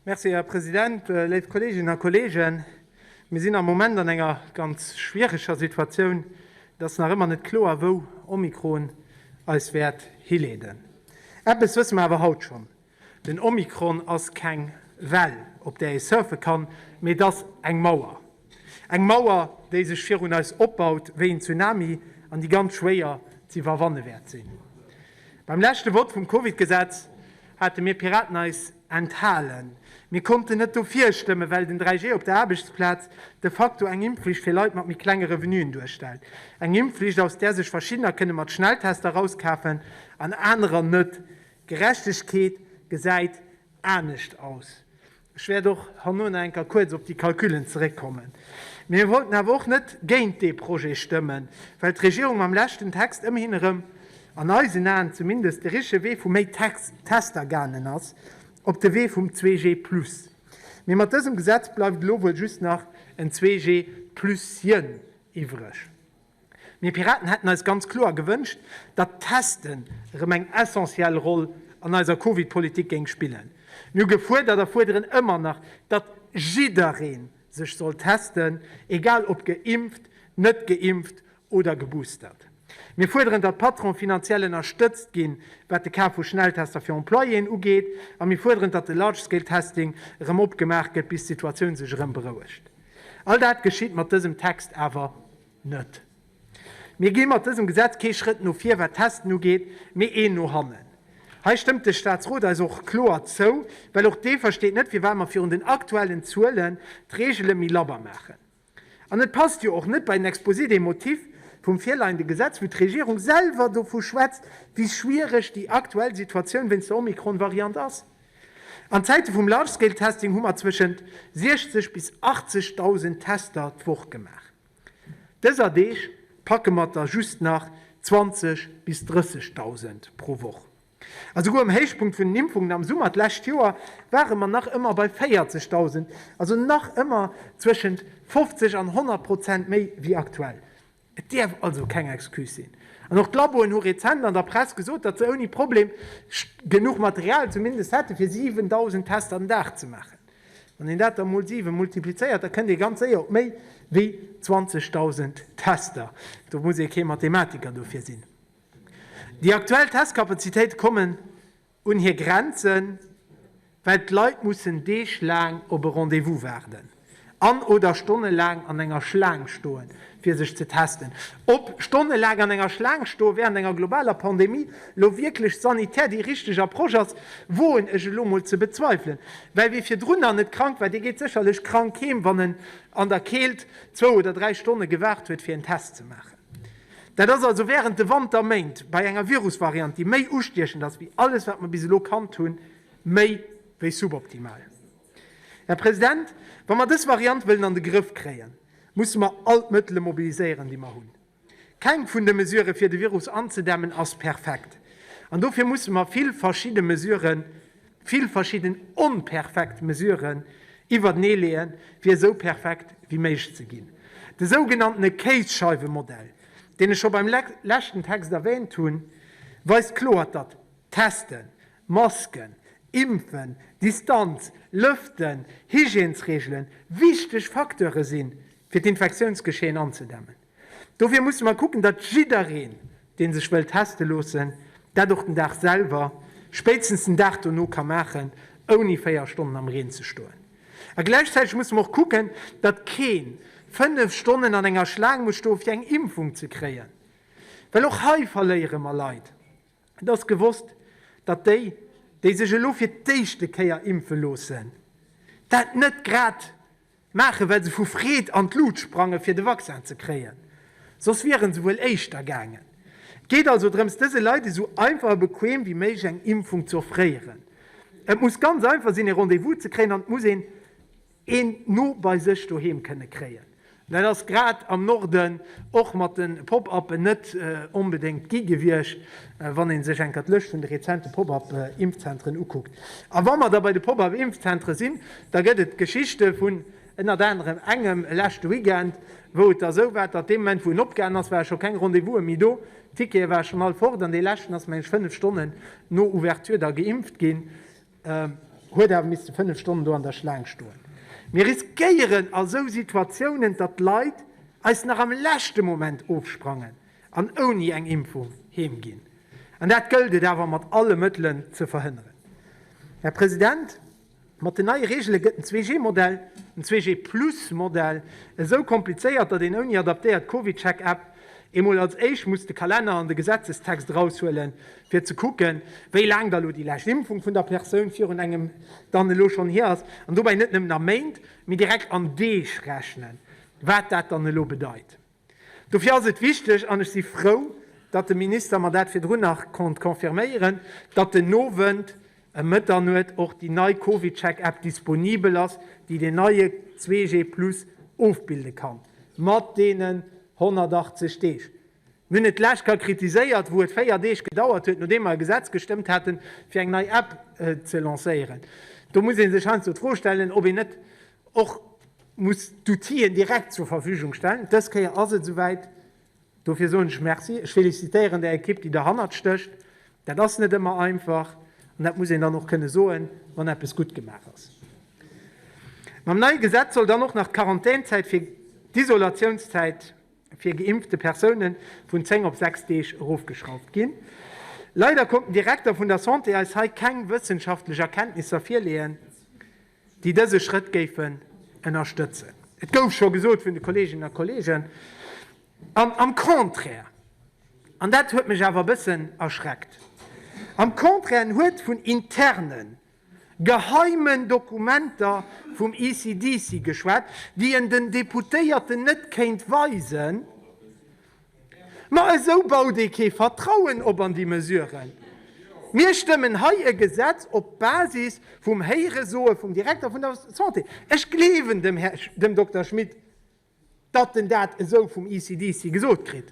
Merci, Här President. Léif Kolleeginnen a Kolleegen, mir sinn am Moment an enger ganz schwiereger Situatioun. Et ass nach ëmmer net kloer, wou Omikron eis wäert hileeden. Eppes wësse mer awer haut schonn, Den Omikron ass keng Well, op där ee surfe kann, mee et ass eng Mauer. Eng Mauer, déi sech virun eis opbaut wéi en Tsunami an déi ganz schwéier ze iwwerwanne wäert sinn. Beim leschte Vott vum Covid-Gesetz hate mir Piraten eis enthalen. Mir konnten net dofir stëmmen, well den 3G op der Aarbechtsplaz de facto eng Impfflicht fir Leit mat méi klenge Revenuen duerstellt. Eng Impfflicht, aus där sech Verschiddener kënne mat Schnelltester rauskafen an anerer net. D'Gerechtegkeet gesäit anescht aus. Ech wäert och herno nach eng Kéier kuerz op déi Calculen zeréckkommen. Mir wollten awer och net géint dee Projet stëmmen, well d'Regierung mam leschten Text ëmmerhin erëm, an eisen Aen zumindest, de richtege Wee vu méi Tester gaangen ass, op de Wee vum 2G plus. Mee mat dësem Gesetz bleift elo wuel just nach en 2G plus-chen iwwreg. Mir Piraten hätten eis ganz kloer gewënscht, datt d'Testen erëm eng essentiell Roll an eiser Covid-Politik géing spillen. Mir hu gefuerdert a fuerderen ëmmer nach, datt jidderee sech soll testen, egal ob geimpft, net geimpft oder geboostert. Mir fuerderen, datt d'Patronen finanziell ënnerstëtzt ginn, wat de Kaf vu Schnelltester fir Employéen ugeet. A mir fuerderen, datt de Large-Scale-Testing erëm opgemaach gëtt, bis d'Situatioun sech erëm berouegt. All dat geschitt mat dësem Text awer net. Mir gi mat dësem Gesetz kee Schrëtt no vir wat d'Testen ugeet, mee een no hannen. Hei stëmmt de Staatsrot eis och kloer zou, well och dee versteet net firwat mer virun den aktuellen Zuelen d'Regele méi labber maachen. An et passt jo och net bei den Exposé des motifs vum virleiende Gesetz, wou d'Regierung selwer dovu schwätzt, wéi schwiereg déi aktuell Situatioun wéinst der Omikron-Variant ass. An Zäite vum Large-Scale-Testing hu mer zwëschent 60 bis 80.000 Tester d'Woch gemaach. Dëser Deeg packe mer der just nach 20 bis 30.000 pro Woch. A souguer um Héichpunkt vun den Impfungen am Summer d'lescht Joer ware mer nach ëmmer bei 40.000, also nach ëmmer zwëschent 50 an 100 Prozent méi wéi aktuell. Et dierf also keng Excuse sinn. An och d'Laboen hu rezent an der Press gesot, datt se ouni Problem genuch Material zumindest hätte fir 7.000 Tester den Dag ze maachen. Wann een dat da mol 7 multiplizéiert, da kënnt ee ganz séier op méi wéi 20.000 Tester. Do muss ee kee Mathematiker dofir sinn. Déi aktuell Testkapazitéite kommen Un hir Grenzen, well d'Leit mussen deeglaang op e Rendez-vous waarden an, oder stonnelaang an enger Schlaang stoen, fir sech ze testen. Ob stonnelaang an enger Schlaang stoe wärend enger globaler Pandemie elo wierklech sanitär déi richteg Approche ass, woen ech elo mol ze bezweifelen. Well wie virdrunner net krank war, dee geet sécherlech krank heem, wann en an der Keelt zwou oder dräi Stonne gewaart huet, fir en Test ze maachen. Dat ass also wärend de Wanterméint bei enger Virusvariant, déi méi ustiechend ass wéi alles, wat mer bis elo kannt hunn, méi wéi suboptimal. Här President, wa mer dës Variant wëllen an de Grëff kréien, musse mer all d'Mëttele mobiliséieren, déi mer hunn. Keng vun de Mesurë fir de Virus anzedämmen ass perfekt, an dofir musse mer vill verschidde Mesurë Vill verschidden onperfekt Mesuren iwwertenee leeën, fir esou perfekt wéi méiglech ze ginn. De sougenanntene Kéisscheifemodell, deen ech scho beim leschten Text erwähnt hunn, weist kloer, datt Testen, Masken, Impfen, Distanz, Lëften, Hygiènesreegelen wichteg Facteure sinn, fir d'Infektiounsgeschehen anzedämmen. Dofir musse mer kucken, datt jiddereen, dee sech wëll teste loossen, dat och den Dag selwer, spéitstens den Dag dono ka maachen, ouni véier Stonnen am Reen ze stoen. A gläichzäiteg musse mer och kucken, datt kee fënnef Stonnen an enger Schlaang muss stoen, fir eng Impfung ze kréien, well och hei verléiere mer Leit. Et ass gewosst, datt déi, déi sech elo fir d'éischte Kéier impfe loossen, dat net grad Maachen, well se vu Freed an d'Lut sprangen, fir de Vaccin ze kréien. Soss wieren se wuel éischter gaangen. Et geet also drëms, dëse Leit esou einfach a bequem wéi méiglech eng Impfung ze offréieren. Et muss ganz einfach sinn, e Rendez-vous ze kréien an et muss een een no bei sech doheem kënne kréien. Dat ass grad am Norden och mat de Pop-Uppen net onbedéngt gi gewiescht, wann ee sech enker d'Lëscht vun de rezente Pop-Up-Impfzentren ukuckt. A wa mer da bei de Pop-Up-Impfzentre sinn, Da gëtt et d'Geschichte vun ënnert anerem engem e leschte Weekend, wou et da esou war, datt dee Moment, wou en opgaangen ass, ware scho keng Rendez-vouse méi do, d'Tickete ware schonn all fort, an dee leschten ass, meng ech, fënnef Stonnen no Ouverture da geimpft ginn, huet awer misste fënnef Stonnen do an der Schlaang stoen. Mir riskéieren a sou Situatiounen, datt d'Leit eis nach am leschte Moment ofsprangen an ouni eng Impfung heem ginn. An dat gëllt et awer mat alle Mëttelen ze verhënneren. Här President, Mat den neie Reegele gëtt den 2G-Modell, den 2G-Plus-Modell, esou komplizéiert, datt een ouni adaptéiert CovidCheck-App emol als éischt muss de Kalenner an de Gesetzestext eraushuele fir ze kucken, wéi laang da elo déi lescht Impfung vun der Persoun virun engem dann elo schonn hier ass, an dobäi net nëmmen a Méint, mee direkt an Deeg rechnen, wat dat dann elo bedeit. Dofir ass et wichteg, an ech si frou, datt de Minister mer dat virdrun nach konnt confirméieren, datt den Owend ëm Mëtternuet och déi nei CovidCheck-App disponibel ass, déi deen neie 2G-Plus ofbilde kann, mat deenen 180 Deeg. Mir hunn et d'lescht Kéier kritiséiert, wou et véier Deeg gedauert huet, nodeem mer e Gesetz gestëmmt haten, fir eng nei App ze lancéieren. Do muss ee sech heiansdo d'Fro stellen, ob een net och muss d'Outien direkt zur Verfügung stellen. Dës Kéier ass et esouwäit. Dofir soen ech Merci. Ech felicitéieren där Ekipp, déi derhannert stécht. Dat ass net ëmmer einfach an dat muss een dann och kënne soen, wann eppes gutt gemaach ass. Mam neie Gesetz soll dann och nach d'Quarantänzäit fir d'Isolatiounszäit fir geimpfte Persoune vun 10 op 6 Deeg erofgeschrauft ginn. Leider konnt den Direkter vun der Santé eis hei keng wëssenschaftlech Erkenntnisser virleeën. déi dëse Schrëtt géifen ënnerstëtzen. Et gouf scho gesot vun de Kolleeginnen a Kolleegen, an am Contraire, an dat huet mech awer e bëssen erschreckt, am Contraire, en huet vun interne geheimen Dokumenter vum ECDC geschwat, déi en den Deputéierten net kéint weisen. Ma esou baut ee kee Vertrauen op an déi Mesuren. Mir stëmmen hei e Gesetz op Basis vum Héiresoe vum Direkter vun der Santé. Ech gleewen dem Här, dem Dokter Schmit, datt en dat esou vum ECDC gesot kritt.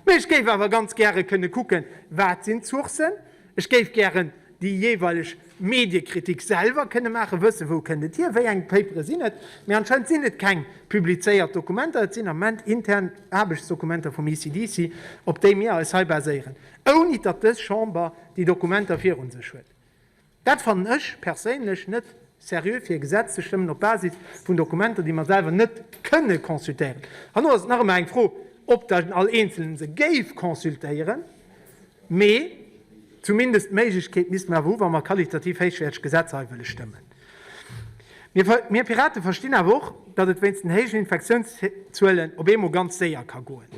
Mee ech géif awer ganz gäre kënne kucken, wat sinn d'Sourcen? Ech géif gären déi jeeweileg Mediekritik selwer kënne maachen, wëssen, wou kënnt et hier, wéi eng Papere sinn et. Mee anscheinend sinn et keng publizéiert Dokumenter, et sinn am Moment intern Aarbechtsdokumenter vum ECDC, op déi mir eis hei baséieren, ouni datt dës Chamber déi Dokumenter virun sech huet. Dat fannen ech perséinlech net seriö, fir e Gesetz ze stëmmen op Basis vun Dokumenter, déi mer selwer net kënne consultéieren. Herno ass et nach ëmmer eng Fro, ob dann all Eenzelen se géif consultéieren. Mee zumindest d'Méiglechkeet misste mer awer hu wa mer qualitativ héichwäerteg Gesetzer hei wëlle stëmmen. Mir Pirate verstinn awer och, datt et wéinst den héijen Infektiounszuelen op eemol ganz séier ka goen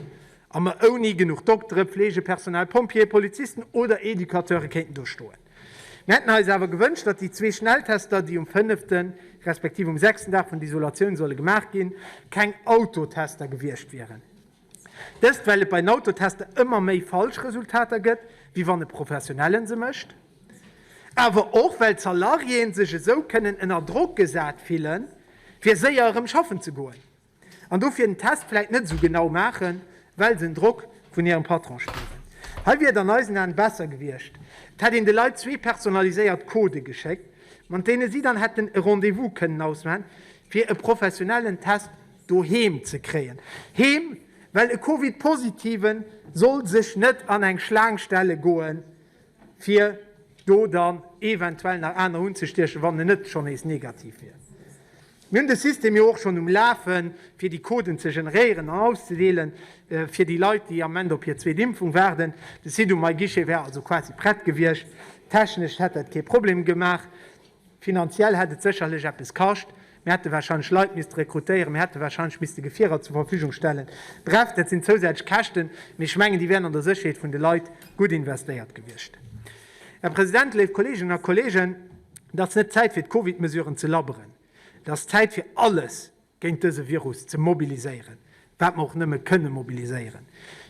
a mer ouni genuch Doktere, Pflegepersonal, Pompjeeë, Polizisten oder Educateure kéinten do stoen. Mir hätten eis awer gewënscht, datt déi zwee Schnelltester, déi um fënnefte respektiv um sechsten Dag vun der Isolatioun solle gemaach ginn, keng Autotester gewiescht wieren. Dëst well et bei den Autotester ëmmer méi falsch Resultater gëtt, wéi wann e Professionellen se mécht. Awer och well d'Salariéen sech esou kënnen ënner Drock gesat fillen, fir séier erëm schaffen ze goen, an dofir den Test vläit net esou genau maachen, well se den Drock vun hirem Patron spieren. Hei wier et an eisen Aen besser gewiescht, et hätt een de Leit zwee personaliséiert Codë geschéckt, mat deene si dann hätten e Rendez-vous kënnen ausmachen, fir e professionellen Test doheem ze kréien, heem, well e Covid-Positive soll sech net an eng Schlaang stelle goen, fir do dann eventuell nach aner unzestiechen, wann en net schonn nees negativ wier. Mir hunn de System jo och schonn um Lafen, fir déi Coden ze generéieren an auszedeelen, fir déi Leit, déi am Moment op hir zweet Impfung waarden. De Site um myguichet wär also quasi prett gewiescht, technesch hätt dat kee Problem gemaach. Finanziell hätt et sécherlech eppes kascht. Mir hätte warscheinlech Leit misste rekrutéieren, mir hätte warscheinlech misste Gefierer zur Verfügung stellen. Bref, dat sinn zousätzlech Käschten, mee ech mengen, déi wären an der Sécherheet vun de Leit gutt investéiert gewiescht. Här President, léif Kolleeginnen a Kolleegen, et ass net d'Zäit fir d'Covid-Mesuren ze labberen, et ass d'Zäit fir alles géint dëse Virus ze mobiliséieren, wat mer och nëmme kënne mobiliséieren.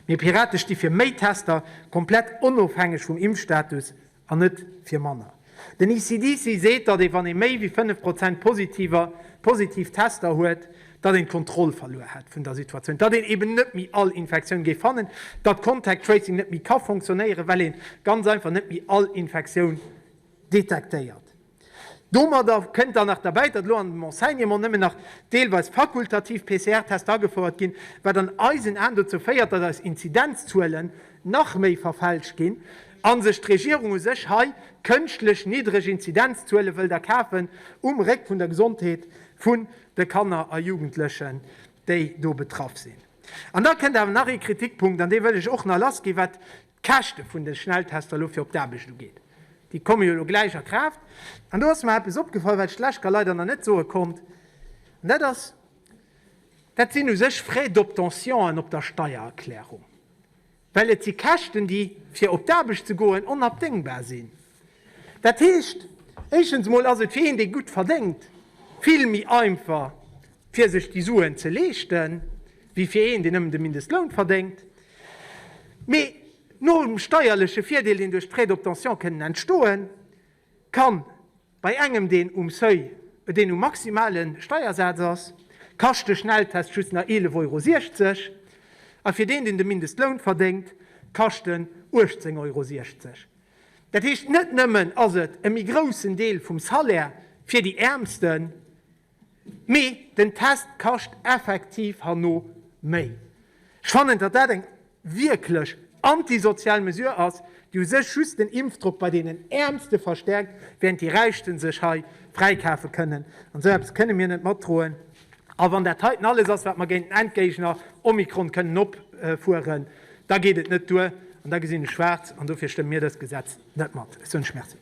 Mir Pirate sti fir méi Tester, komplett onofhängeg vum Impfstatus, an net fir manner. Den ECDC seet, datt ee wann ee méi wéi 5 Prozent Positiver, positiv Tester, huet, datt een d'Kontroll verluer hätt vun der Situatioun, datt een eben net méi all Infektioun géif fannen, datt Contact Tracing net méi ka fonctionnéieren, well ee ganz einfach net méi all Infektioun detektéiert. Domadder kënnt dann nach derbäi, datt elo an dem Enseignement nëmmen nach deelweis fakultativ PCR-Tester agefouert ginn, wat an eisen Aen dozou féiert, datt eis Inzidenzzuelen nach méi verfälscht ginn a sech d'Regierung u sech hei kënschtlech niddreg Inzidenzzuele wëllt erkafen um Réck vun der Gesondheet vun de Kanner a Jugendlechen, déi do betraff sinn. An da kënnt awer nach ee Kritikpunkt, an dee wëll ech och nach lassginn, wat Käschte vun de Schnelltester elo fir op d'Aarbecht ugeet. Déi komme jo elo gläich a Kraaft. An do ass mer eppes opgefall, wat ech d'Leschter leider nach net soe konnt. An dat ass, dat sinn u sech Frais d'obtention'en op der Steiererklärung. Well et si Käschten, déi, fir op d'Aarbecht ze goen, onabdéngbar sinn. Dat heescht, éischtens emol ass et fir een, dee gutt verdéngt, vill méi einfach, fir sech déi Suen ze leeschten, wéi fir een, deen nëmmen de Mindestloun verdéngt. Mee nom steierleche Virdeel, deen duerch d'Frais d'obtention kënnen entstoen, ka bei engem, deen um Seuil, deen um maximale Steiersaz ass, kascht de Schnelltest just nach 11,60 Euro, a fir deen, deen de Mindestloun verdéngt, kascht en 18,60 Euro. Dat heescht, net nëmmen ass et e méi groussen Deel vum Salaire fir déi Äermsten, mee den Test kascht effektiv herno méi. Ech fannen, datt dat eng wierklech antisozial Mesure ass, déi u sech just den Impfdrock bei deenen Äermste verstärkt, während déi Räichte sech hei fräikafe kënnen. An esou eppes kënne mir net matdroen. A wann dat heiten alles ass, wat mer géint den Endgéigner Omikron kënnen opfueren, da geet et net duer an da gesinn ech schwaarz. An dofir stëmme mir dëst Gesetz net mat. Ech wënsche Merci.